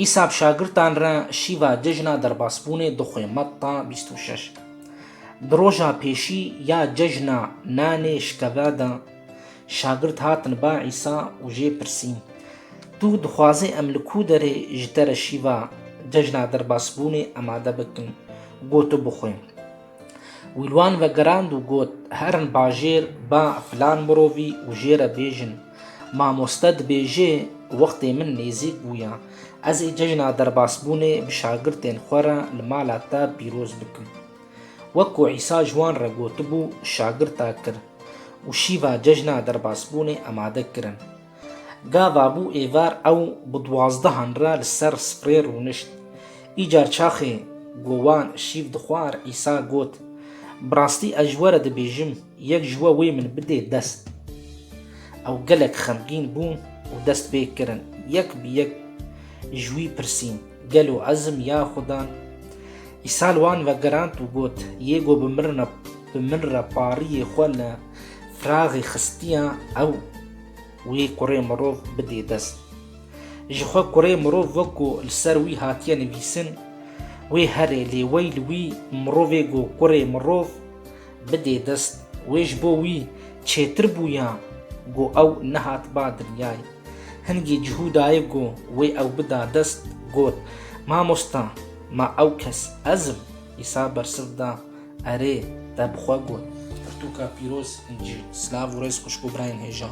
Îsa bi şagirtan re şîva cejna derbasbûnê dixwe Metta bîst û şeş. Di roja pêşî ya cejna nanê şikeve de şagirt hatin ba Îsa û jê pirsîn, Tu dixwazî em li ku derê ji te re şîva cejna derbasbûnê emade bikin ku tu bixwe? Wî li wan vegirand û got, Herin bajêr, ba filan mirovî û jê re bêjin, Mamoste dibêje, wextê min nêzîk bû ya, ez ê cejna derbasbûnê bi şagirtên xwe re li mala te pîroz bikim. Wek ku Îsa ji wan re gotibû, şagirta kir û şîva cejna derbasbûnê amade kirin. Gava bû êvar ew bi duazdehan re li ser sprê rûnişt. Îcar çaxê gowan şîv dixwar Îsa got, Bi rastî ez ji we re dibêjim, yek ji we wê min bidê dest. Ew gelek xemgîn bûn û dest pê kirin yek bi yek ji wî pirsîn, Gelo ez im ya Xudan? Îsa li wan vegerand û got, Yê ku bi min re pariyê xwe li firaxê xistiya ew Wî kurê mirov bidê dest. Ji xwe kurê mirov wekû li ser wî hatiye nivîsin, wê here lê wey li wî mirovê ku kurê mirov bidê dest, wê ji bo wî çêtir bûya ku ew nehat ba diryay. Hingî cihû dayê ku wê ew bida dest, got, Mamosta, ma ew kes ez im? Îsa bersiv da, Erê, te bi xwe got. Pirtûka pîroz, incî, silav û rêz xwişk û birayên hêja.